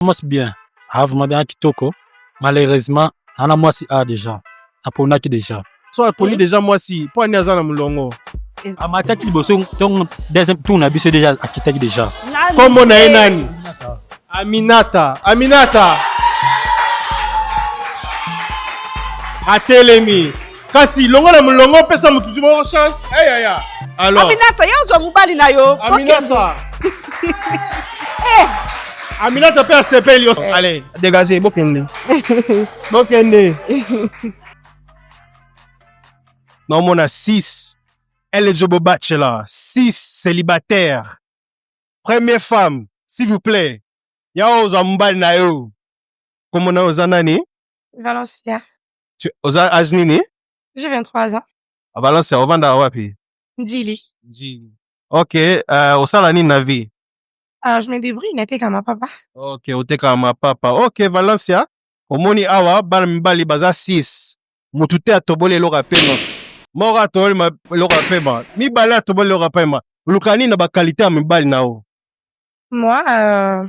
commence bien ah vraiment bien kitoko malheureusement nana mwasi a déjà naponaki déjà so aponi déjà mwasi mpo ani aza na molongo amataki liboso ntongo deuxième tour na biso déjà akitaki déjà nkombo na ye nani aminata aminata atelemi kasi longola molongo pesa motutu moko chance ayaya eh, alors aminata yo ozwa mobali na yo aminata eh. aminata mpe asepeli yo eh. allez dégage bokende bokende naomona 6 eligible bachelor 6 célibataire première femme s'il vous plaît ya ozwa mobali na yo komona oza nani valencia Tu- oza age nini J'ai 23 ans. balance ya ovanda wapi Ndjili. ok euh, osala nini na vie Alors, je me débrouille, nateka ma papa. ok otekaka mapapa ok valencia omoni awa bana mibali baza 6 motu te atoboli eloko ya pema moko atoboli ma- eloko ya pema mibale atoboli eloko ya pema oluka nini na bakalite ya mibali na yo Moi, euh,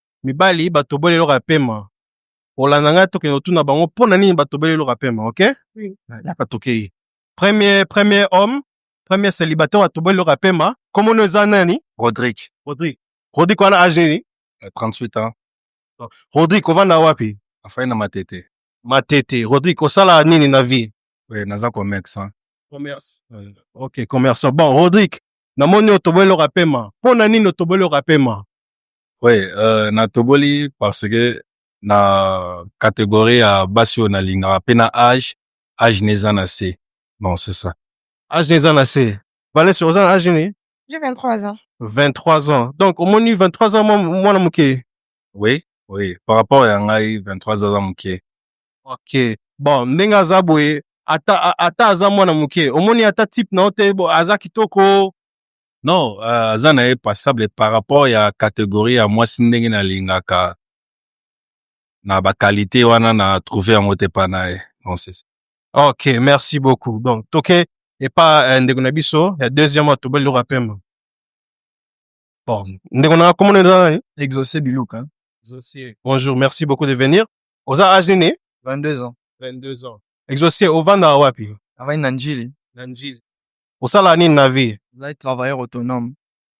mibali batoboli eloko ya pema olanda ngai tokende kotuna bango mpo na nini batoboli eloko ya pema ok Oui. yaka tokei premier premier homme premier célibataire atoboli eloko ya pema komono eza nani Rodrick, rodrik rodrik wana age nini euh, 38 ans, rodrik ovanda wapi afai na matete. matete rodrik osala nini na vie Oui, naza commerce. Hein. commerce Euh, ok commerçant bon rodrik namoni otoboli eloko ya pema mpo na nini otoboli eloko ya pema Oui, euh, natoboli parce que na catégorie ya basi oyo nalingaka mpe na age age na eza na se bon c'est ça age na eza na se vanessa oza na age nini J'ai 23 ans. 23 ans donc omoni 23 ans mwa- mwana moke oui oui par rapport ya ngai 23 aza moke ok bon ndenge aza boye ata, a- ata aza mwana moke omoni ata type na yo te bo, aza kitoko non euh, aza na ye passable par rapport ya categorie ya mwasi ndenge nalingaka na bakalite wana na trouve yango te pa na ye ok merci beaucoup donc toke epa euh, ndeko na biso ya deuxième wa tobali loko apema bon ndeko na komona eza nani exauce biluka bonjour merci beaucoup de venir oza age nini 22 ans 22 ans exauce ovanda wapi avandi na njili na njili Osala nini na vie? Nazali travailleur autonome.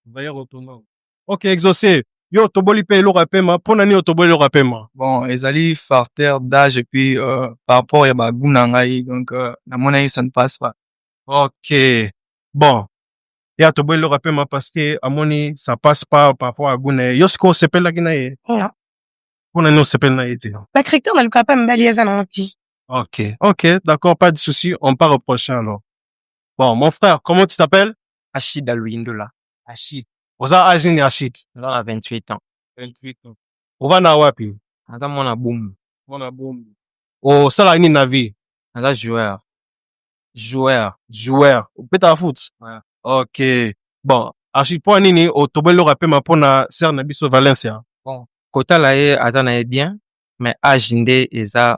Travailleur autonome. Ok, exaucé. Yo otoboli mpe eloko ya pema, mpo na nini otoboli eloko ya pema? Bon, ezali facteur d'âge et puis euh, par rapport ya ba goût na ngai, donc euh, namonaki ça ne passe pas. Ok. Bon. Ye atoboli eloko ya pema parce que amoni ça passe pas par rapport ya goût na ye. Yo sikoyo osepelaki na ye? Non. Mpo na nini osepeli na ye te? Ba critères nalukaka mpe mibali eza nango te. Ok, ok, d'accord, pas de souci, on part au prochain alors. Bon, mon frère, comment tu t'appelles Achid Aluindula. Achid. Oza âge nini Achid Nga na 28 ans. 28 ans. Ova na wapi Naza mwana boumbu. Mwana boumbu. Osala nini na vie Naza joueur. Joueur. Joueur. Opetaka foot Ouais. Ok. Bon, Achid, mpo nini otoboli eloko ya pema mpo na sœur na biso Valencia Kotala ye aza na ye bien, mais âge nde eza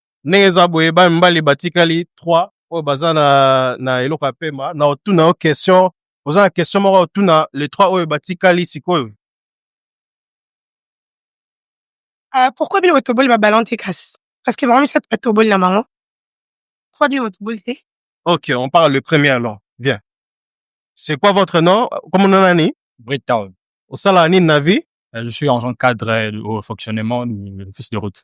ndenge eza boye ba mibali batikali 3 oyo baza na, na eloko ya pema na otuna yo question oza na question moko otuna le 3 oyo batikali sikoyo Uh, pourquoi bino botoboli babalon te kasi parce que bango misato batoboli na bango pourquoi bino botoboli te ok on parle le premier alors bien c'est quoi votre nom comme nom nani Bricktown. osala nini na vie Euh, Je suis en tant que cadre euh, au fonctionnement du fils de route.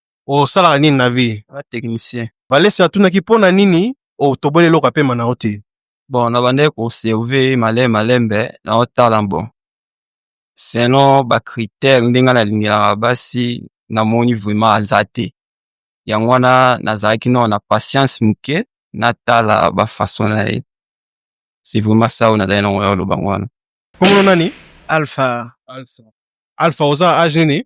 osalaka nini na vie ba technicien valesi atunaki mpo na nini otoboli eloko apema na yo te bon nabandaki koserve male malembe naotala bon selon bacritère ndenge nga nalingelaka basi namoni vraiment aza te yango wana nazalaki nao na patience moke natala bafaçon na ye c'est vraiment ça oyo nazali nango ya oloba yango wana komona nani alpha alpha alpha oza age nini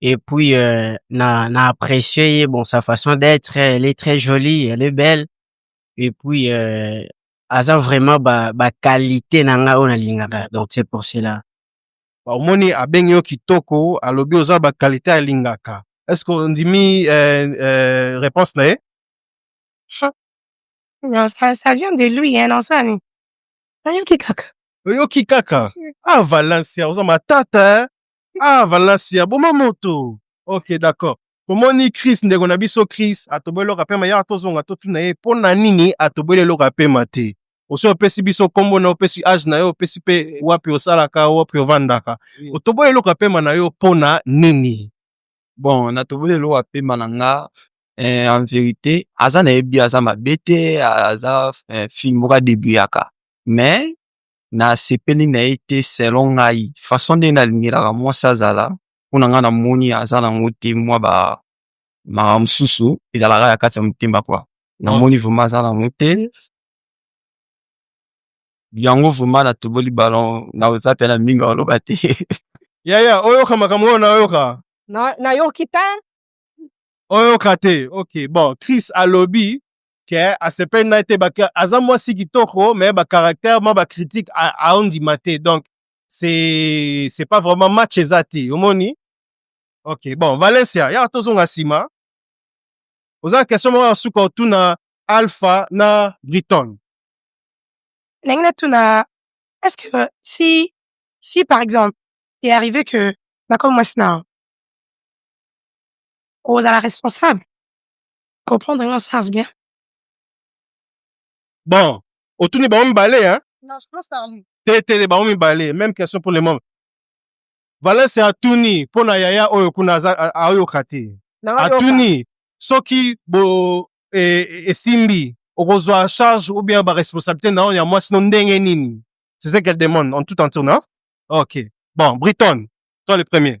et puis euh, na na apprécié bon sa façon d'être elle est très jolie elle est belle et puis euh, aza vraiment ba ba qualité na nga ona lingaka donc c'est pour cela bah, omoni abengi yo kitoko alobi oza ba qualité ya lingaka est ce que ondimi euh, euh, réponse na ye non ça, ça vient de lui hein, non ça ni nayoki kaka oyoki kaka ah valencia oza matata hein? ah valasia boma moto ok d'accord tomoni chris ndeko na biso chris atoboli eloko ya pema yaka tozonga totuna ye mpo na nini atoboli eloko ya pema te osi opesi biso nkombo na yo opesi age na yo opesi mpe wapi osalaka wapi ovandaka otoboli eloko ya pema na yo mpo na nini bon natoboli eloko ya pema na nga eh, en verite aza nayebi aza mabe te aza eh, fille moko adebuyaka mais na sepeli na ye te selon ngai façon nde na lingelaka mwasi azala mpo na ngai na moni aza na ngo te mwa ba makambo mosusu ezalaka ya kati ya motema kwa na moni vrema aza na ngo te yango vrema na toboli balon na oza mpe na mingi oloba te yaya oyoka makambo oyo nayoka nayoki te oyoka te ok bon chris alobi ke asepeli na ye te aza mwasi kitoko me bacaractère mwa bacritique aondima te donc c'est c'est pas vraiment match eza te omoni ok bon valencia yaka tozonga nsima oza na question moko ya suka otuna alpha na briton ndenge natuna est ce que si si par exemple est arrivé que nakoma mwasi na okozala responsable comprendre nga charge bien bon otuni bango mibale hein? non je pense par lui te te bango mibale même question pour le moment valence atuni mpo na yaya oyo kuna ayoka te atuni soki bo e, e, esimbi okozwa charge ou bien baresponsabilité na oyo ya mwasi no ndenge nini c'est ce qu'elle demande en tout entier na ok bon briton toi le premier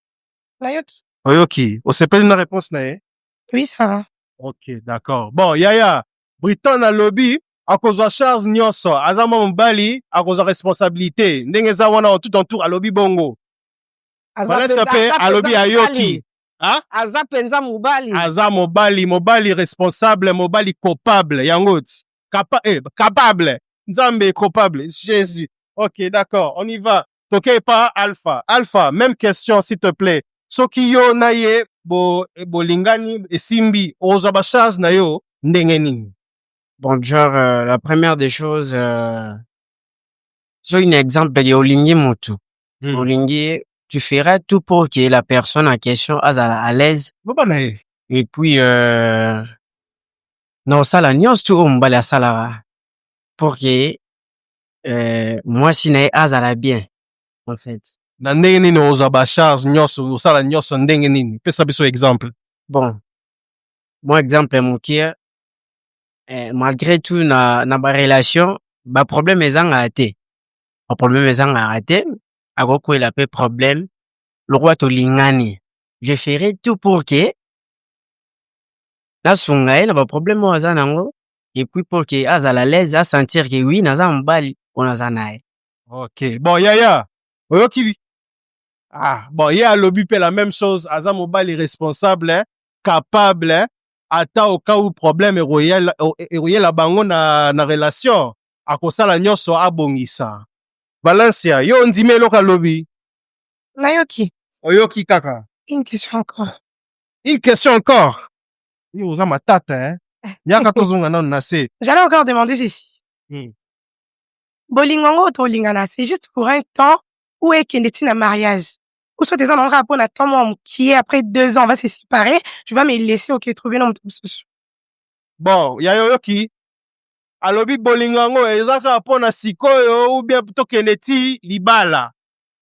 Nayoki. Oyoki, osepeli na réponse na ye? Oui, ça va. Ok, d'accord. Bon, yaya, Briton alobi akozwa charge nyonso, aza mwa mobali, akozwa responsabilité. Ndenge eza wana en tout en tout alobi bongo. Aza Vanessa mpenza- pe aza mpenza alobi mobali. ayoki. Hein? Aza mpenza mobali. Aza mobali, mobali responsable, mobali coupable. Yango ti. Capa eh, capable. Nzambe est coupable. Jésus. Ok, d'accord. On y va. toke epa alpha alpha même question s'il te plaît soki yo na ye bo, bolingani esimbi okozwa bacharge na yo ndenge nini bon genre euh, la première des choses euh, soki na exemple ya olingi motu hmm. olingi ye tu feras tout pour que la personne en question azala à l'aise boba na ye et puis euh, na osala nyonso tu oyo mobali asalaka pour que euh, mwasi na ye azala bien en fait na ndenge nini ozwa bacharge nyonso osala nyonso ndenge nini pesa biso exemple bon mwa exemple ya mokie eh, malgré tout na, na barelation baproblème ezangaka te baproblème ezangaka te akokwela mpe problème lokola tolingani je ferai tout pour que nasunga ye na ba problème oyo aza nango et puis pour que azala l'aise a sentir que oui naza mobali mpo naza na ye ok bon yaya oyoki bi ah bon ye alobi mpe la même chose aza mobali responsable hein, capable hein, ata au cas où problème ekoyela o- ekoyela bango na, na relation akosala nyonso abongisa valencia yo ondimi eloko alobi Nayoki. oyoki kaka Une question encore. Une question encore. Yo oza matata hein. Yaka tozonga nanu na se. J'allais encore demander ceci. Hmm. Bolingo yango tolingana, c'est juste pour un temps ou ekende ti na mariage. Ou soit eza na nga mpo na temps mwa mokie après deux ans on va se séparer, tu vas me laisser ok trouver na moto mosusu. Bon, ya yo yoki alobi bolingo yango eza kaka mpo na sikoyo ou bien tokende ti libala.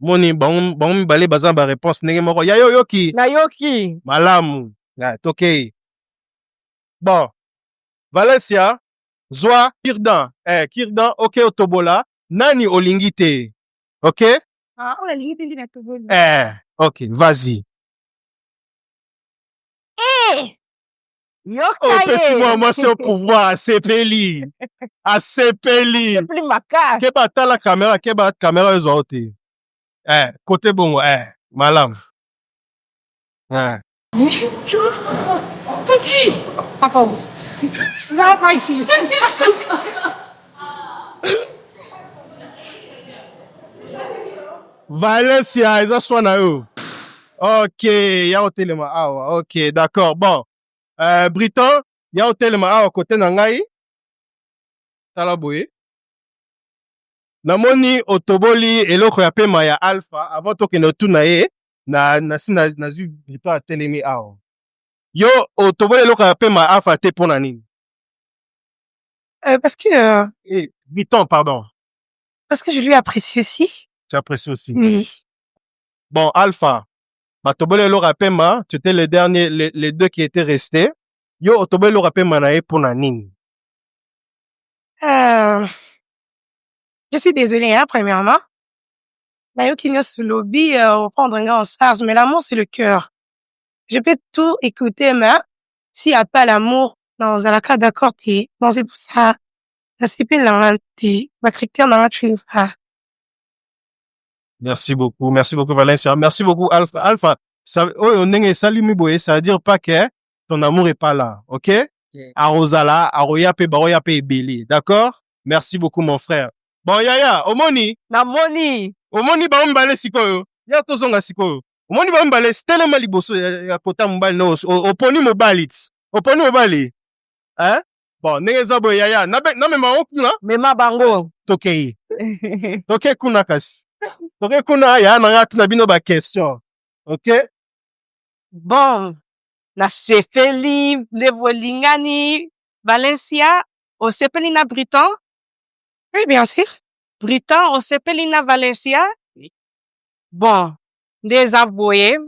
moni bango bango mibale baza na ba réponse ndenge moko ya yo yoki nayoki malamu na tokei bon valencia zwa kirdan eh, kirdan oke otobola nani olingi te ok Ah, oyo alingi te nde natoboli eh, ok vas-y Eh! opesi mwa mwasi o pouvoir asepeli asepeli ke batala kamera ke ba kamera ezwa yo te eh, kote bongo eh, malamu eh. valencia eza swa na yo Ok, ya otelema awa. Ok, d'accord. Bon. Euh, Briton, ya otelema awa kote na ngai. Tala boye. Namoni otoboli eloko ya pema ya Alpha avant tokende otuna ye na na si na nazwi Briton atelemi awa. Yo otoboli eloko ya pema ya Alpha te pona nini? Euh, parce que euh, Eh, Briton, pardon. parce que je lui apprécie aussi. Tu apprécies aussi. Oui. Bon, Alpha, batoboli eloko ya pema, tu étais le dernier, les, les deux qui étaient restés. Yo, otoboli eloko ya pema na ye mpo na nini? Euh, je suis désolée, hein, premièrement. Nayoki nyonso lobi euh, reprendre nga en charge, mais l'amour c'est le cœur. Je peux tout écouter, mais s'il n'y a pas l'amour, non, ozalaka d'accord te. Bon, c'est pour ça, nasepeli na nga te, ba critères na nga tu les pas. Merci beaucoup, merci beaucoup Valencia, merci beaucoup Alpha. Alpha, ça, oyo ndenge esali mi boye, ça veut dire pas que ton amour est pas là, ok? Yeah. Arozala, aroya pe baroya pe ebele, d'accord? Merci beaucoup mon frère. Bon yaya, omoni? Na moni. Omoni ba ombale sikoyo. Ya tozonga sikoyo. Omoni ba ombale stelema liboso ya, ya kota mobali no oponi mobali. Oponi mobali. Hein? bon ndenge eza boye yaya namema yango kuna mema bango tokei toke kuna kasi toke kuna yaya na ngai tuna bino baquestion ok bon nasepeli nde bolingani valencia osepeli na briton oui bien sûr briton osepeli na valencia bon nde eza boye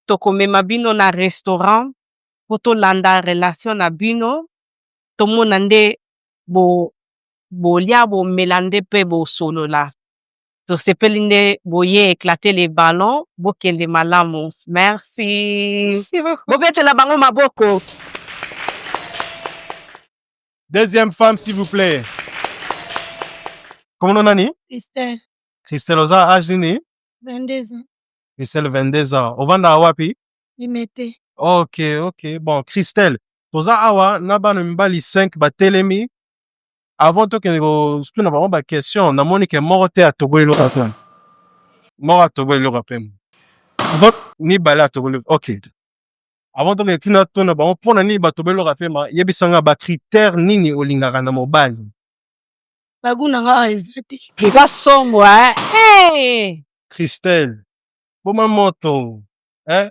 tokomema bino na restaurant po tolanda relation na bino tomona nde bo bolia bomela nde pe bosolola tosepeli nde boye eclate le ballon bokende malamu merci bobetela bango maboko deuxième femme s'il vous plaît komono nani Christelle christelle oza age nini 22 ans christelle 22 ans ovandaka wapi limete ok ok bon christelle toza awa na bana mibali 5 batelemi avant tokende kotuna bango baquestion namoni ke moko te atoboli eloko ya pema moko atoboli eloko ya pema mibale atoboli ok avant tokende tuna tuna bango mpo na nini batoboli eloko ya pema yebisa nga bacritère nini olingaka na mobali bagu na nga eza te eza somo eh. christelle boma moto eh?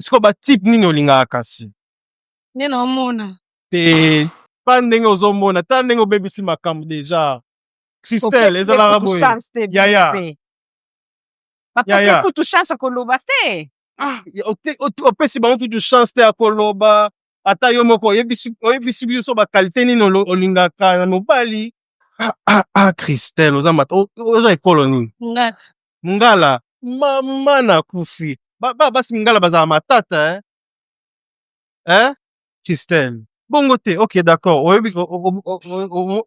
sikoyo batype nini olingaka kasi nde naomona te pa ndenge ozomona ta ndenge obebisi makambo deja christelle ezalaka boye yaya yaya kutu chance ya koloba te ah, opesi bango kutu chance te ya koloba ata yo moko oyebisi biso bakalite nini olingaka na mobali ah, ah, ah, christelle oza mata oza ekolo nini mungala mama na kufi ba, ba, basi mingala bazala matata eh? Eh? Christelle bongo te ok d'accord oyebi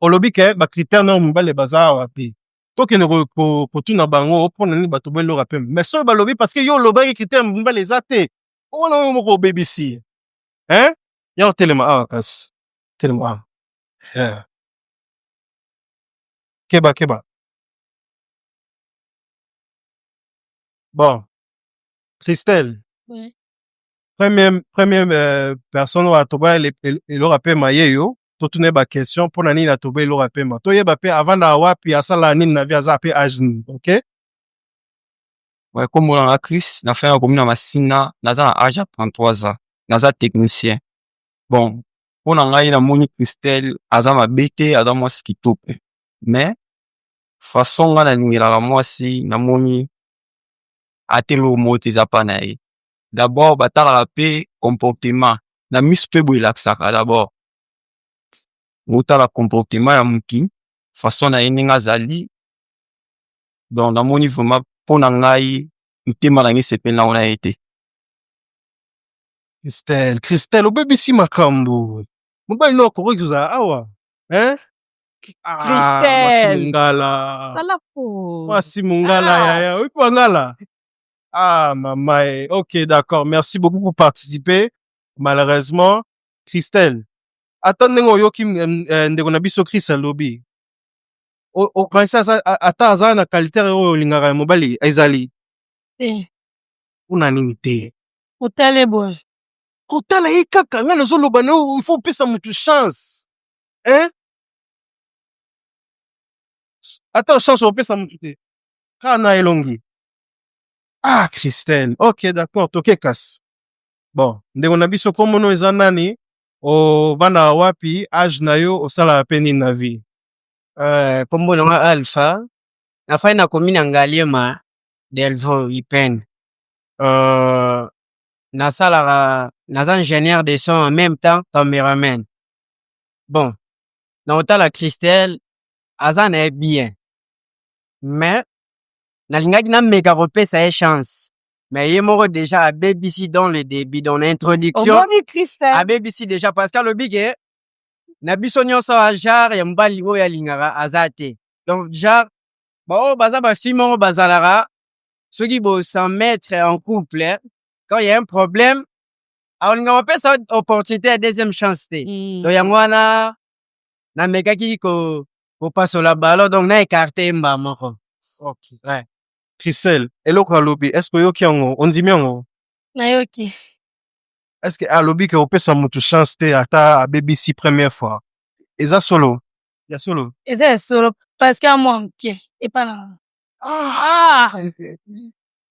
olobi ke bacritère nao mibale baza awa te tokende kotuna bango mpo na nini bato boeloka pembe mais soki balobi parce que yo olobaki critère mibale eza te omona yo moko obebisi eh? ya otelema awa kasi telema awa yeah. keba keba bon christelle Oui. première, première euh, personne oyo atobola ele- ele- eloko ya pema ye yo totuna ye baquestion mpo na nini atobola eloko ya pema toyeba mpe avandaka wapi asalaka nini na vie aza mpe age nini ok Ouais, comme on a Chris, na fin ya commune ya Masina, naza na âge ya 33 ans, naza technicien. Bon, mpo na ngai namoni Christelle aza mabe te, aza mwasi kitoko. Mais façon nga nalingelaka mwasi namoni ata eloko moko te eza pa na ye d'abord batalaka mpe comportement na miso mpe boye elakisaka d'abord otala comportement ya motu façon na ye ndenge azali donc namoni vraiment mpo na ngai motema na ngai esepeli nango na ye te Christelle, Christelle, obebisi makambo. Mobali no akoki kozala awa. Hein? Ah, mwasi Christelle. mongala Sala pause. mwasi mongala Ah. yaya oyebi bangala ah mama e ok d'accord merci beaucoup pour participer malheureusement christelle ata ndenge oyoki mm, eh, ndeko na biso chris alobi o- okanisi aza- a- ata aza na kalite oyo olingaka ya mobali ezali Te. mpona nini te Otale boye. kotala ye kaka ngai nazoloba na yo il faut opesa motu chance eh? ata chance opesa motu te kaka na elongi ah christelle ok d'accord toke kasi bon ndeko na biso komono eza nani obandaka wapi age na yo osalaka mpe nini na vie Eh, kombo na nga alpha nafai na komi na ngaliema delvaux ipene uh, nasalaka naza ingénieur de son en même temps cameraman bon na otala christelle aza na ye bien mais nalingaki nameka kopesa ye chance mais ye moko deja abebisi dans le début dans l'introduction omoni christelle abebisi deja parce que alobi ke na biso nyonso awa genre ya mobali oyo alingaka aza te donc genre baoyo baza bafi moko bazalaka soki bo s'en mettre en couple quand il y a un problème akolinga mapesa opportunité ya deuxième chance te mm. donc yango wana namekaki ko kopasola balo donc na écarte ye mbaa moko okay. ouais. christelle eloko alobi est ce que oyoki yango ondimi yango nayoki est ce que alobi ke opesa motu chance te ata abebisi première fois eza solo ya solo eza ya solo parce que amwa moke epa na ah. ah.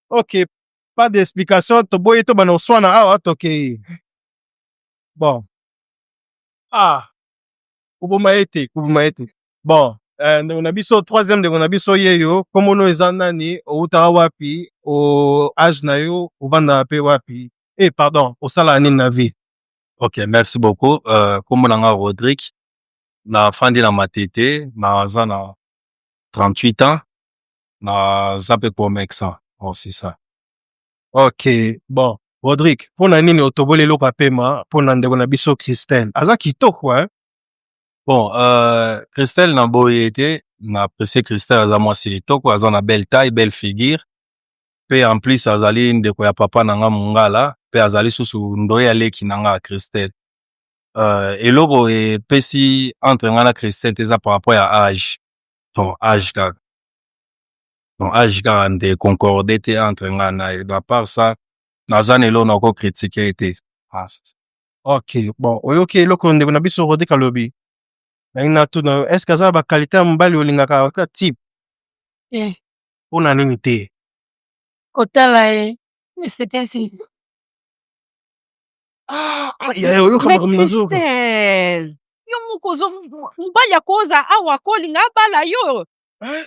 ok pas d'explication toboyi tobanda koswana awa tokei bon ah koboma ye te koboma ye te bon eh, ndeko na biso troisième ndeko na biso yeyo komono eza nani owutaka wapi o age na yo ovandaka mpe wapi e pardon osalaka nini na vie ok merci beaucoup uh, kombo na nga rodrik nafandi na matete naza na 38 ans naza mpe comexan aussi ça ok bon rodrik mpo na nini otoboli eloko ya pema mpo na ndeko na biso christelle aza kitoko eh? bon euh, christelle na boyi ete na apprécie christelle aza mwasi kitoko aza na belle taille belle figure mpe en plus azali ndeko ya papa na nga mongala mpe azali susu ndoye ya leki na nga christelle euh, eloko epesi entre nga na christelle te eza par rapport ya age ton age kaka ton age kaka nde concorde te entre nga na ye à part ça naza na eloko nako critique te ah, ok bon oyoki eloko ndeko na biso rodi kalobi nangi natuna yo est ce que aza na bakalite ya mobali olingaka ata type eh. mpo na nini te kotala ye esepesi Ah, ah, ya- ya- oyo kama kama nazoyoka. Christelle, yo moko ozo mobali akoza awa akolinga abala yo Hein?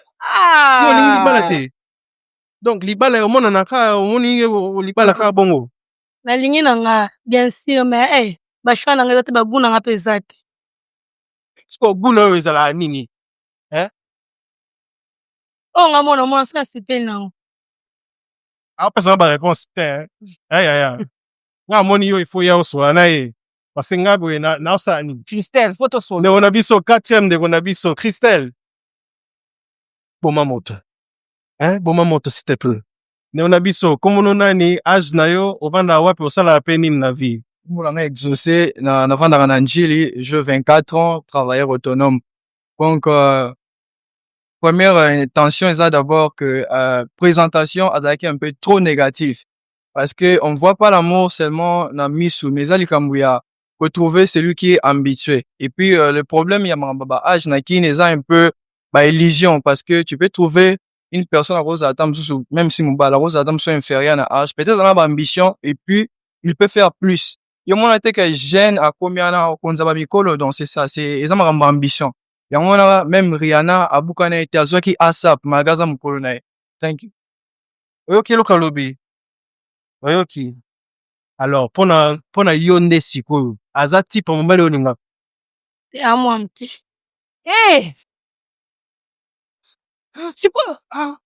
Yo olingi libala Ah, te. Donc libala ya omonana ka omoni ye o- o- libala ka bongo. nalingi na nga bien sûr mais eh, bashwa na nga eza te bagu na nga mpe eza te Siko guna oyo ezalaka nini? oyo nga mona mwana soki asepeli na yango apesa na bareponse te yayaya eh. eh, nga amoni yo ifo ya osola na ye parce nga boye naosala nini christelle fo tosola ndeko na biso quatrième ndeko na biso christelle boma moto eh, boma moto s'il te plaît ndeko na biso komono nani age na yo ovandaka wapi osalaka mpe nini na vie komona nga exaucé navandaka na, na njili je 24 ans travailleur autonome donc euh, première euh, intention eza d'abord que euh, présentation azalaki un peu trop négatif parce que on voit pas l'amour seulement na misu mais eza likambo ya retrouver celui qui est habitué et puis euh, le problème ya makambo ba age na kin eza un peu ba illusion parce que tu peux trouver une personne à cause ata mosusu même si mobala cause ata mosusu inférieur na age peut-être ana ba ambition et puis il peut faire plus yo mona te que jeune akomi wana okonza ba mikolo donc c'est ça c'est eza makambo ambition yango wana meme Rihanna abukana ye te azwaki ASAP malgré aza mokolo na ye thank you oyoki eloko alobi oyoki alors pona pona yo nde sikoyo aza type ya mobali olingaka ya mwa moke eh sikoyo ah.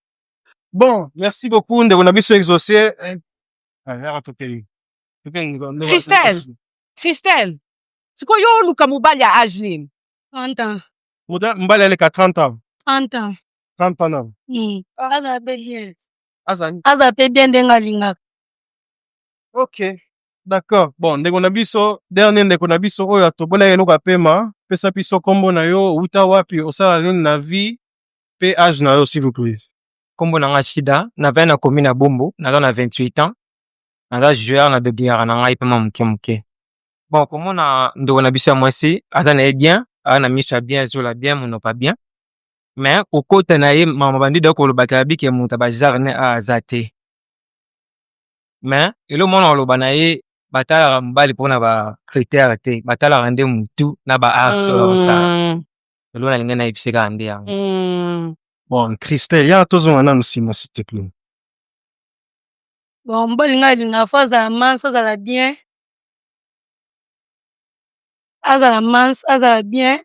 bon merci beaucoup ndeko na biso exaucé yaka tokei tokei ndeko- ndeko- Christelle. christelle sikoyo yo oluka mobali ya age nini 30 ans. Muda mbali aleka 30 ans. 30 ans. 30 ans nano. Mm. Aza pe bien. Aza aza pe bien ndenge alingaka. Okay. D'accord. Bon, ndeko na biso, dernier ndeko na biso oyo atobola eloko ya pema, pesa biso kombo na yo, uta wapi, osala nini na vie, pe âge na yo s'il vous plaît. Kombo na nga Shida, na vin na komi na Bombo, naza na 28 ans. Naza joueur na dobliara na ngai pema moke moke. bon komona ndeko na biso ya mwasi aza na ye bien aza na miso ya bien ezola bien monoka bien mais kokota na ye mama bandido akolobaka ya bike moto ya bazar ne a aza te mais elo mwana oloba na ye batalaka mobali mpona ba critère te batalaka nde motu na ba arts oyo bakosala mm. elo nalingi nayebise kaka nde yango mm. bon christelle yaka tozonga nanu nsima s'il te plaît bon mobali ngai alingaka fo azala manso azala bien azala mans azala bien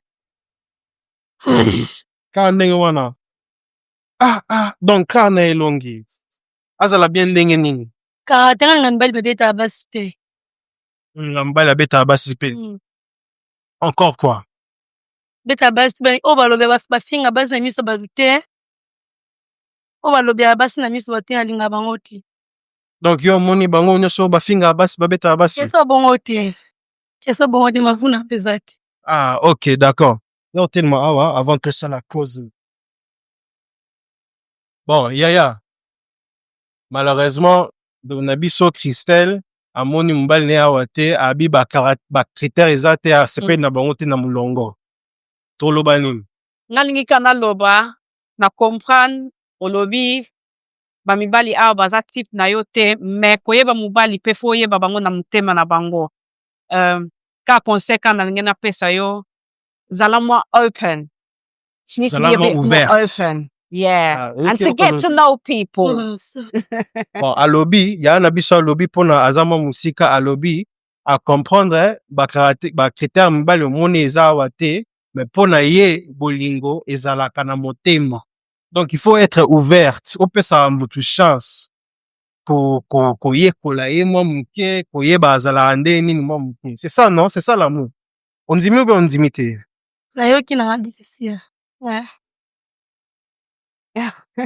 kaka ndenge wana ah ah donc kaka na elongi azala bien ndenge nini kaka te nga na mibali babetaka basi te nga mobali abetaka basi mpe Mm. encore quoi beta basi ba- oyo balobela bas- bafinga basi na miso bato te oyo balobela basi na miso bato te nalinga bango te donc yo omoni bango nyonso bafingaka basi babetaka basi keso bongo te keso bongo te mavuna mpe eza te ah ok d'accord yo otelema awa avant tosala cause bon yaya malheureusement ndeko na biso christelle amoni mobali na ye awa te abi bacritère eza te asepeli na bango te na molongo toloba nini nalingi ka naloba na comprendre olobi ba mibali awa baza type na yo te mais koyeba mobali pe faut oyeba bango na motema na bango euh, ka conseil ka nalingi napesa yo zala mwa open she needs to be a bit more open yeah ah, and to get to know people bon alobi yaya na biso alobi mpona aza mwa mosika alobi acomprendre bacritère mibale omoni eza awa te me mpo na ye bolingo ezalaka na motema donc il faut être ouverte opesa mutu chance koyekola ye mwa moke koyeba azalaka nde nini mwa moke c'est ça non c'est ça l'amour ondimi obe ondimi te nayoki nanga blessure ouais.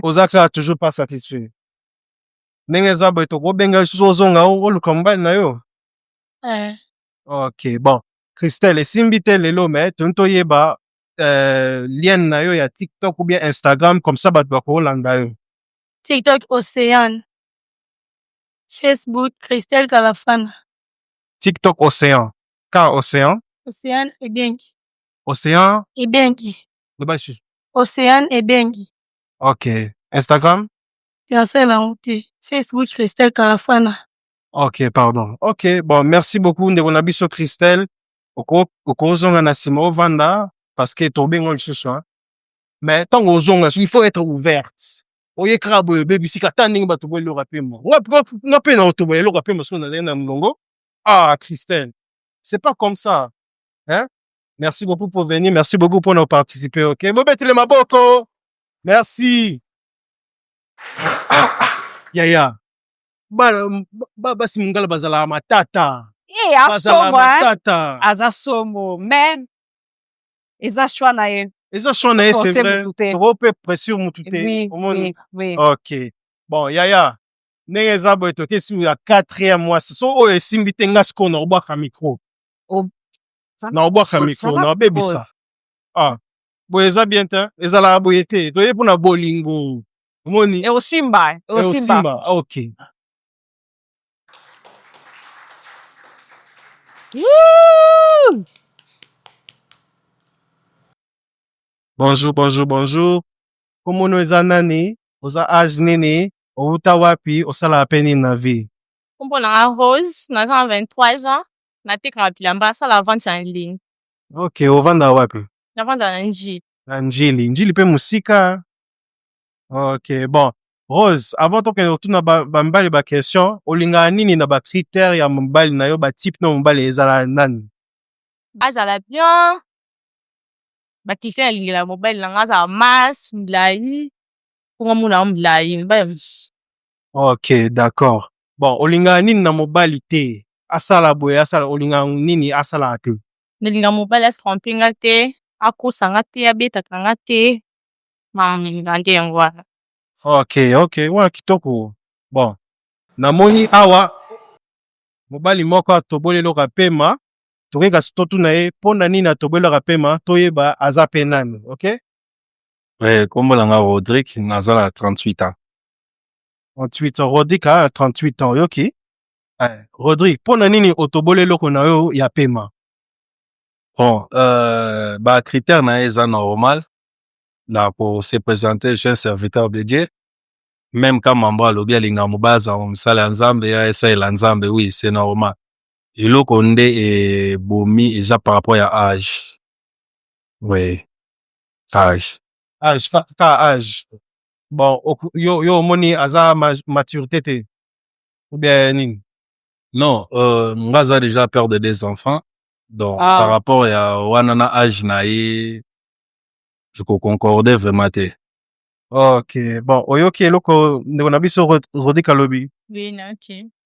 oza kaka toujours pas satisfait ndenge eza boye tokobenga lisusu ozonga oluka mobali na yo ouais. ok bon christelle esimbi te lelo me toni toyeba euh, lien na yo ya TikTok ou bien Instagram comme ça bato bakolanda yo. TikTok Ocean. Facebook Christelle Kalafana. TikTok Ocean. K Ocean. Ocean Ebengi. Ocean Ebengi. Loba susu. Ocean Ebengi. OK. Instagram? Christelle Aoute. Facebook Christelle Kalafana. Ok, pardon. Ok, bon, merci beaucoup, Ndebona Bisso Christelle. okozonga na nsima ovanda parce que tobenga lisusu hein. mais ntango ozonga il faut être ouverte oye kaka boye obebisi kata ndenge bato boye eloko ya pema nga mpe na otobola eloko ya pema soki nazali na molongo ah christelle c'est pas comme ça hein? merci beaucoup pour venir merci beaucoup mpo na participer ok bobetele maboko merci ah, ah, ah. yaya basi mingala bazalaka matata eh, bazalaka matata aza somo mais eza choix na ye eza choix na ye c'est vrai trop peu pression mutu te omoni ok bon yaya ndenge eza boye toke sur ya quatrième mwasi so oyo esimbi te nga sikoyo na obwaka micro na obwaka micro na obebisa ah boye eza bien te ezalaka boye te toye mpo na bolingo omoni ekosimba ekosimba okay bonjour bonjour bonjour komono eza nani oza age nini owuta wapi osalaka mpe nini na vie kombo na nga rose naza na 23 ans natekaka bilamba asala vente ya ligne ok ovanda wapi navanda na njili na njili njili mpe mosika ok bon rose avant tokende kotuna bamibali ba question olingaka nini na bacritère ya mobali na yo batype na mobali ezala nani bazala bien bakristian alingela mobali na ngai azala mas milai mpo nga mona yango milai mibali ok d'accord bon olingaka nini na mobali te asala boye asala olingaka nini asalaka te nalinga mobali atrompe nga te akosa nga te abetaka nga te nandi yango wana ok ok wana kitoko bon namoni awa mobali moko atoboli eloko ya pema tokoki kasi totuna ye mpo na nini atoboli eloko ya pema toyeba aza mpe nani ok Eh, kombo na nga Rodrick, naza na 38 ans. 38 ans rodrik aa 38 ans oyoki Eh, rodrik mpo na nini otoboli eloko na yo ya pema Bon, euh, ba critères na ye eza normal. na ko se presenter je serviteur de Dieu meme ka mambo alobi alinga mobaya azala mosala ya Nzambe ya esalela Nzambe oui c'est normal eloko nde ebomi eza par rapport ya age oui age age ka, ka age bon yo yo omoni aza maturité te ou bien nini non euh, nga aza déjà père de deux enfants donc ah. par rapport ya wana na age na ye concorde vraiment te ok bon oyoki eloko ndeko na biso rodi kalobi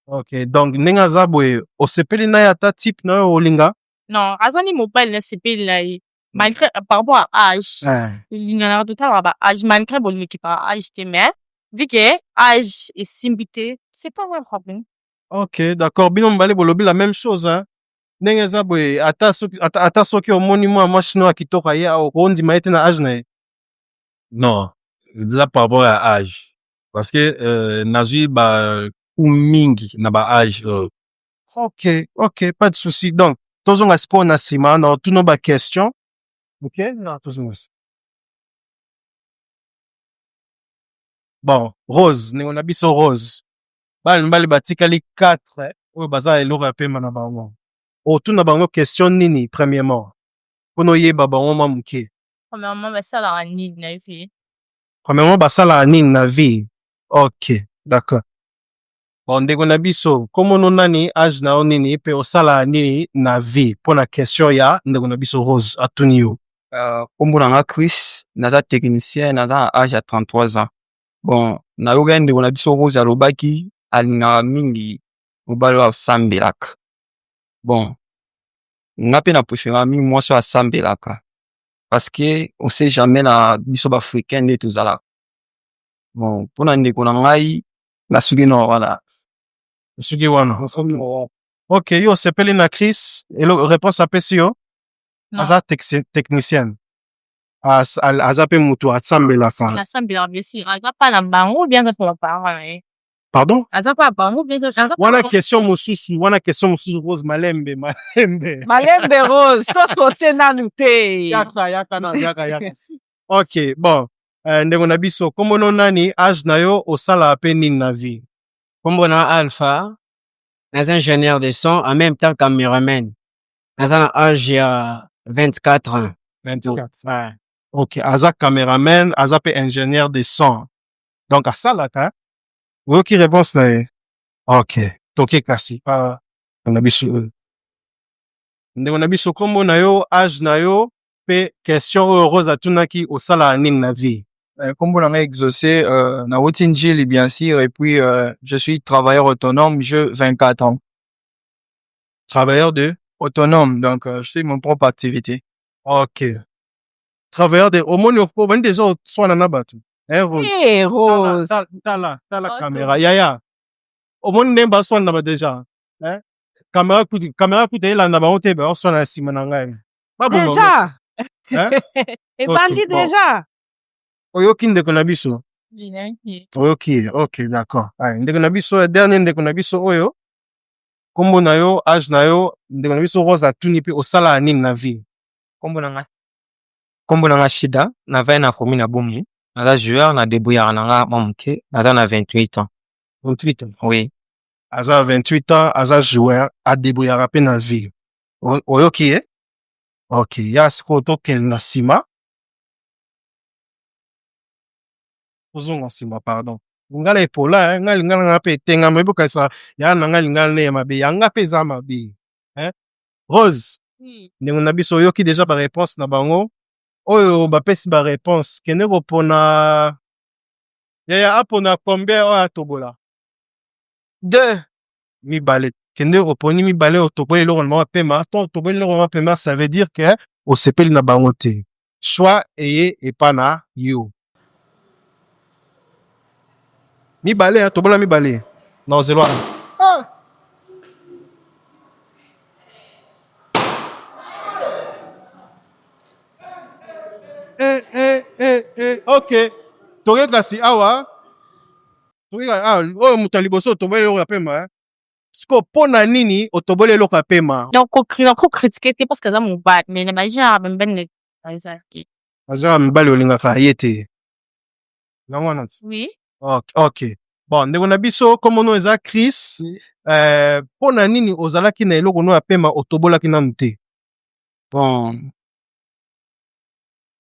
ok donc ndenge aza boye osepeli na ye ata type na yo olinga non aza ni mobali nasepeli na ye malgré euh, par rapport à âge eh. linganaka totalaka ba âge malgré bolingo ekipaka âge te mais vu que âge esimbi te c'est pas vrai problème ok d'accord bino mibale bolobi la même chose hein? ndenge eza boye ata soki ata, ata soki omoni mwa mwa chinois ya kitoko aye awa okondima ye te na age na ye non eza par rapport ya age parce que euh, nazwi ba coup mingi na ba age oyo ok ok pas de souci donc tozonga sikoyo na nsima na otuno ba question ok na tozonga nsima bon rose ndeko na biso rose bana mibali batikali 4 oyo baza eloko ya pema na bango otuna bango question nini premièrement mpona oyeba bango mwa moke Premièrement, basalaka nini na vie? premièrement basalaka nini na vie ok d'accord bon ndeko na biso komono nani age na yo nini mpe osalaka nini na vie mpo na question ya ndeko na biso rose atuni yo Euh, kombo na nga Chris, naza technicien, naza na âge ya 33 ans. bon nayokaki ndeko na biso rose alobaki alingaka mingi mobali oyo asambelaka bon nga mpe na preferaka mingi mwasi oyo asambelaka parce que on sait jamais na biso baafricain nde tozalaka bon mpo na ndeko na ngai nasuki na wana soki wana ok yo osepeli na chris elo réponse apesi yo aza tex- technicienne As- al- aza mpe moto asambelaka nasambelaka blessure aza mpa na bango bien aza mpo na parent na ye pardon aza mpa na bango bien aza mpo na wana bango. question mosusu wana question mosusu rose malembe malembe malembe rose tosote nanu te yaka yaka na yaka yaka ok bon eh, ndeko na biso kombono nani age na yo osala mpe nini na vie Kombo na Alpha, naza ingénieur de son, en même temps cameraman. naza na age ya 24 ans 24 ouais. ok aza cameraman aza mpe ingénieur de son donc asalaka oyoki réponse na ye ok toke kasi pa na biso oyo ndeko na biso nkombo na yo age na yo mpe question oyo rose atunaki osalaka nini na vie nkombo na ngai exaucé euh, nauti njili bien sûr et puis euh, je suis travailleur autonome je 24 ans Travailleur de Autonome, donc euh, je suis mon propre activité. Ok. Travailleur de omoni obandi deja oswana na bato. Eh Rose. Hey, Tala, Rose. tala, tala, tala Auto. kamera. Yaya. Omoni ndenge baswana na ba deja. Eh? Kamera kutu, kamera kutu elanda bango te baswana na nsima na ngai. Baboma bango. Deja. Hein? Ebandi Ok, bon. deja. Oyoki ndeko na biso. Oyoki. Ok, d'accord. Ay, ndeko na biso, ya dernier ndeko na biso oyo. Kombo na yo, age na yo, ndeko na biso Rose atuni pe osala nini na vie? Kombo na nga Kombo na nga Shida, na vaya na commune ya Bomi. Naza joueur na debrouillard na nga mwa moke. Naza na 28 ans. 28 ans. Oui. Aza 28 ans, aza joueur, a debrouillard pe na vie. Oyoki ye? Okay, ya sikoyo tokende na sima. ozonga nsima pardon lingala epola eh? ngai lingala nanga mpe etengama ebokanisa ya na ngai lingala nde ya mabe yanga mpe eza mabe eh? rose hmm. ndenge na biso oyoki deja bareponse na bango oyo bapesi bareponse kende kopona yaya apona combien oyo atobola deux mibale kende oponi mibale otoboli eloko na mwa pema to otoboli eloko na mwa pema ça veut dire que osepeli na bango te soit eye epa na yo mibale hein, tobola mibale na ozelo wana ah. eh, eh, eh, eh. ok toke kasi awa Ah, oyo moto ya liboso otoboli eloko ya pema eh? siko mpo na nini otoboli eloko ya pema nakokritike te parceke aza mobali me na bagenre bembene ezalaki aza mibali olingaka ye te yango wana ti oui ok bon ndeko na biso komono eza chris eh, mpo euh, na nini ozalaki na eloko no ya pema otobolaki nanu te bon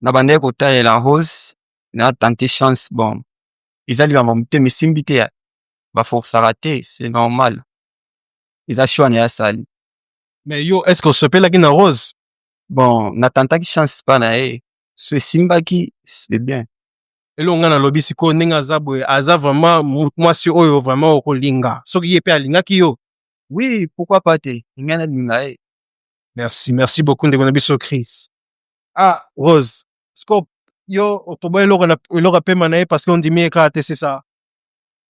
nabandaki kotalela rose na tante chance bon eza likambo ya motema esimbi te ya baforsaka te c'est normal eza choix na ye asali mais yo est ce que osepelaki na rose bon natantaki chance pa na ye so esimbaki c'est bien eloko ngai nalobi sikoyo ndenge aza boye aza vraiment mu- mwasi oyo vraiment okolinga soki ye mpe alingaki yo oui pourquoi pas te ngai nalinga ye merci merci beaucoup ndeko na biso chris ah rose siko yo okoba eloko na eloko apema na ye parce que ondimi ye kaka te c'est ça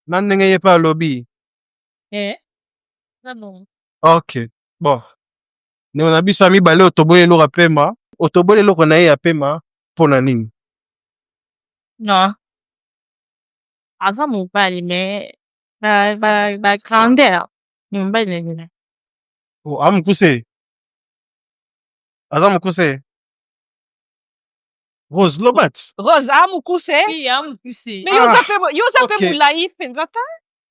na ndenge ye mpe alobi eh na bongo ok bon ndeko na biso ya mibale otoboli eloko apema otoboli eloko na ye ya pema mpo na nini non aza mobali mais ba ba ba grandeur ni mobali na nini oh, amokuse aza mokuse Rose Lobat. Rose a mukuse. Oui, a mukuse. Mais yoza pe ah, yoza pe mulayi penza ta.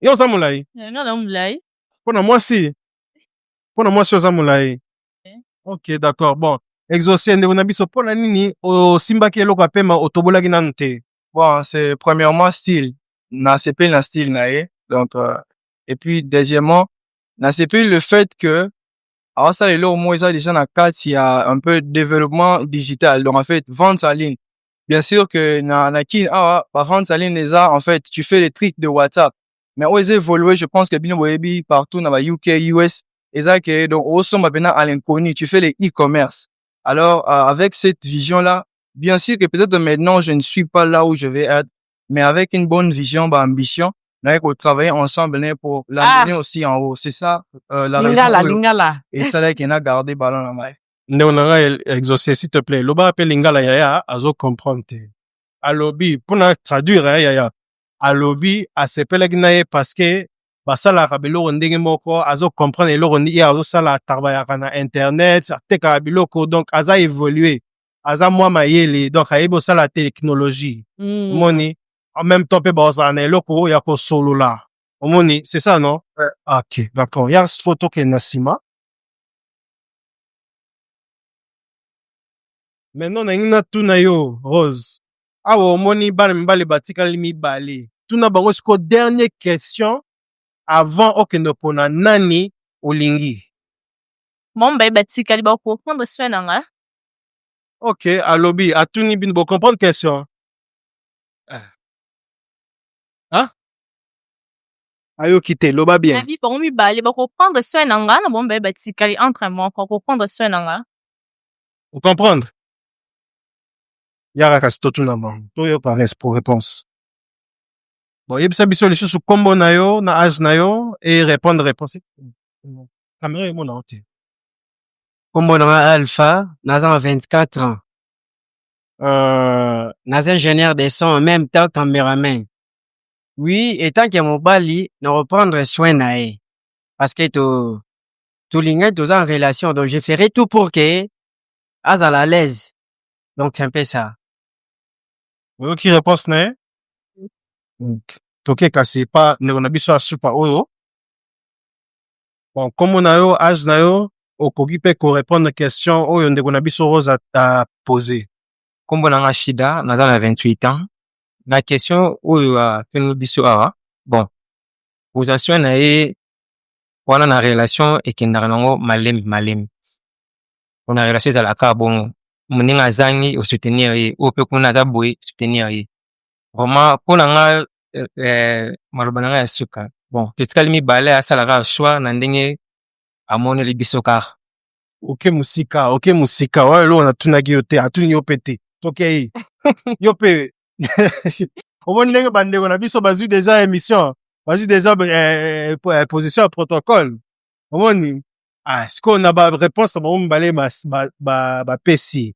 Yoza mulayi. Eh, nga na mulayi. Pona mwasi. Pona mwasi yoza mulayi. Eh. Ok, d'accord. Bon, exaucé ndeko na biso pona nini osimbaki eloko ya pema otobolaki nanu te? Bon, c'est premièrement style. Na sepeli na style na ye. Donc euh, et puis deuxièmement, na sepeli le fait que awasala eloko moko eza déjà na kati ya un peu développement digital donc en fait vente en ligne bien sûr que na, na kin awa ba vente en ligne eza en fait tu fais les tricks de whatsapp mais oyo eza évolué je pense que bino boyebi partout na ba uk us eza que donc osomba mpena à l'inconnu tu fais les e-commerce alors euh, avec cette vision là bien sûr que peut-être maintenant je ne suis pas là où je vais être mais avec une bonne vision, bah, ambition, mais qu'on travaille ensemble né, pour l'amener ah. aussi en haut. C'est ça euh, la lingala, raison. Lingala. Et ça là qu'on a gardé ballon en main. ndeko na ngai exaucé s'il te plaît lobaka mpe lingala yaya azo comprendre te alobi mpo na traduire ya yaya alobi asepelaki na ye parce que basalaka biloko ndenge moko azo comprendre eloko ye azosala atarbayaka na internet atekaka biloko donc aza évolue aza mwa mayele donc ayebi osala technologie mm. omoni en même temps mpe baozala na eloko ya kosolola omoni c'est ça non ouais. Ah, ok d'accord ya spo tokende na nsima maintenant nalingi natuna yo rose awa omoni bana mibale batikali mibale tuna bango siko dernier question avant okende opona nani olingi mama baye batikali bakorepondre soin na ngai ok alobi atuni bino bo comprendre question eh. ah? ayoki te loba bien abi bango mibale bakoprendre soin na nga na bango mibale batikali entre moko akoprendre soin na nga okomprendre yaka kasi totuna bango toyoka pour réponse bon yebisa biso lisusu nkombo na yo na age na yo e répondre réponse kamera emonao te Kombo na nga Alpha, naza na 24 ans. Euh, naza ingénieur de son, en même temps cameraman. Oui, etant que mobali, na reprendre soin na ye. Parce que to, tolingai toza en relation, donc je ferai tout pour que azala à l'aise. Donc c'est un peu ça. oyoki réponse na ye toke kasi epa ndeko na biso ya supa oyo bon kombo na yo age na yo okoki mpe korepondre question oyo ndeko na biso rose apose kombo na nga shida naza na 28 ans na question oyo atuni biso awa bon position na ye wana na relation ekendaka nango malembe malembe mpona relation ezalaka bongo moninga azangi osoutenir ye oyo mpe kuna aza boye soutenir ye vraiment mpo na nga eh, eh, maloba na nga ya suka bon totikali mibale asala kaka choix na ndenge amoneli biso kaka oke mosika oke mosika oyo eloko natunaki yo te atuni yo mpe te tokei yo mpe omoni ndenge bandeko na biso bazwi deja émission bazwi deja eh, eh, position ya protocole omoni ah, sikoyo na bareponse na bango mibale bapesi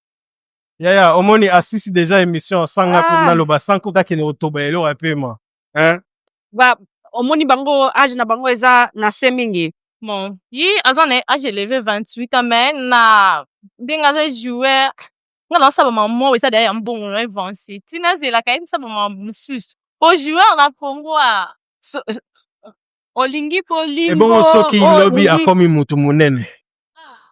Yaya, omoni asisi deja emission sanga ah. kuna loba sanko kake ne otoba eloko ya pema. Hein? Ba omoni bango âge na bango eza na se mingi. Bon, yi aza na âge élevé 28 ans mais na ndenge aza joueur nga na saba maman eza derrière mbongo na avance. Tina zela kaye saba maman mususu. Po joueur na Congo a so, olingi po olingi. Ebongo soki lobi akomi mutu munene. Ah.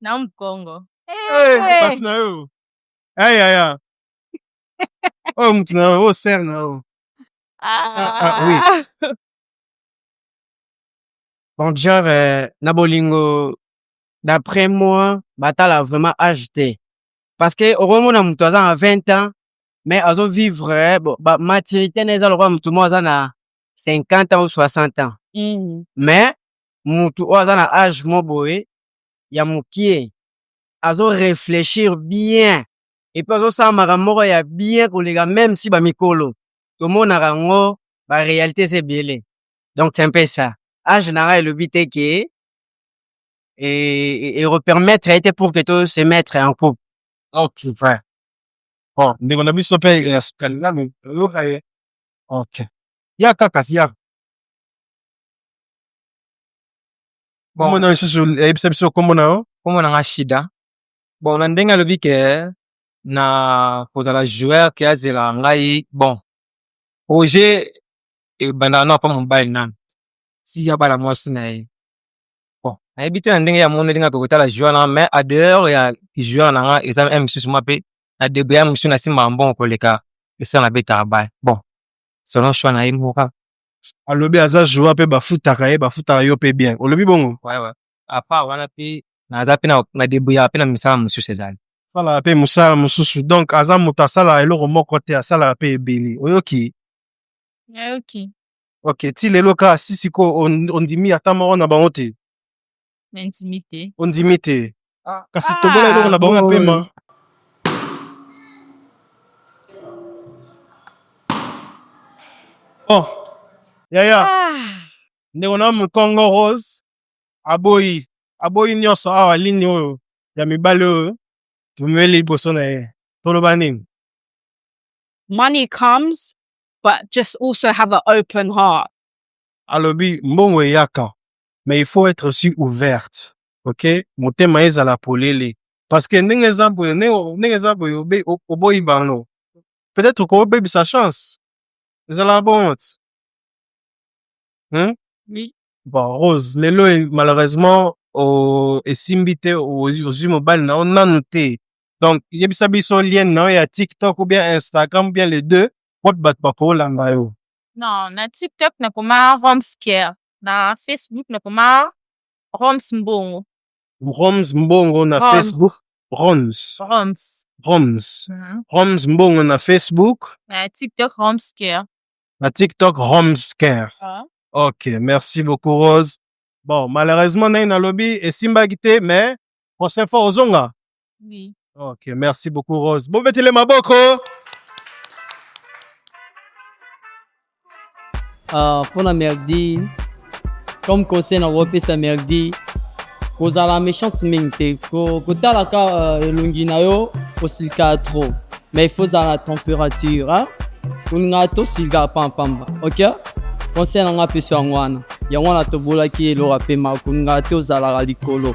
na mkongo eh, eh. bato na yo ayaya eh, oyo oh, motu na yo oyo oh, ser na yo donc genre euh, na bolingo d'après moi batala vraiment âge te parce que okomona moto aza na 20 ans mais azo vivre eh, bon, ba maturité na eza lokola moto moko aza na 50 ans ou 60 ans mm. mais moto oyo aza na âge mo boye ya mukie azo reflechir bien epuis azosala makambo moko ya bien koleka meme si bamikolo tomonaka yango barealité eza ebele donc c'est un peu ça age na ngai elobi te ke erepermettre ye te pour que to se mettre en couple okay. ouais. bon ndeko na biso mpe ya sukalilalu oyoka ye okay. ya kaka si ya bon kombo na yo lisusu yebisa biso kombo na yo kombo na nga shida bon na ndenge alobi ke na kozala joueur ke azela ngai bon projet ebandaka nao mpa mobali nanu si abala mwasi na ye bon nayebi te na ndenge ya mono ndenge akoki kotala joueur na nga mais a dehors ya joueur na nga eza m mosusu mwa mpe na degre ya mosusu nasimbaka mbongo koleka esala nabetaka bale bon selon choix na ye moko kaka alobi aza joa pe bafutaka ye bafutaka yo pe bien olobi bongo apa wana pe naza pe na debrouillaka pe na misala mosusu ezali asalaka pe mosala mosusu donc aza moto asalaka eloko moko te asalaka pe ebele oyoki nayoki ok ti lelo kaka si sikoyo ondimi ata moko na bango te Nandimi te. Ondimi te. Ah. Kasi ah. tobola eloko na bango ya pema. Bon. Oh. Yaya. Ah. Ndeko na Mukongo Rose aboyi aboyi nyonso awa lini oyo ya mibale oyo tumeli liboso na ye. Toloba nini? Money comes but just also have an open heart. Alobi mbongo eyaka mais il faut être aussi ouverte ok motema ezala polele parce que ndenge eza boye ndenge eza boye oboyi bango peut-être kobebisa chance ezala bongo ti hmm? oui. bon rose lelo e, malheureusement o, esimbi te ozwi mobali na yo nanu te donc yebisa biso lien na yo ya tiktok ou bien instagram ou bien les deux wapi bato bakolanda yo non na tiktok nakoma romskier na Facebook na koma Roms Mbongo. Roms Mbongo na Roms. Facebook. Roms. Roms. Roms. Mm. Roms Mbongo na Facebook. Na TikTok Roms Care. Na TikTok Roms Care. Ah. Ok, merci beaucoup Rose. Bon, malheureusement naye nalobi esimbaki te mais prochaine fois ozonga. Oui. Ok, merci beaucoup Rose. Bon, mettez les maboko. Uh, mpo na merdi comme conseil na kopesa merdi kozala méchante mingi te ko- kotalaka uh, elongi na yo kosilika trop mais il faut ozala na température hein? kolingaka tosilika pampamba ok conseil na ngai apesi yango wana yango wana tobolaki eloko ya pema kolingaka te ozalaka likolo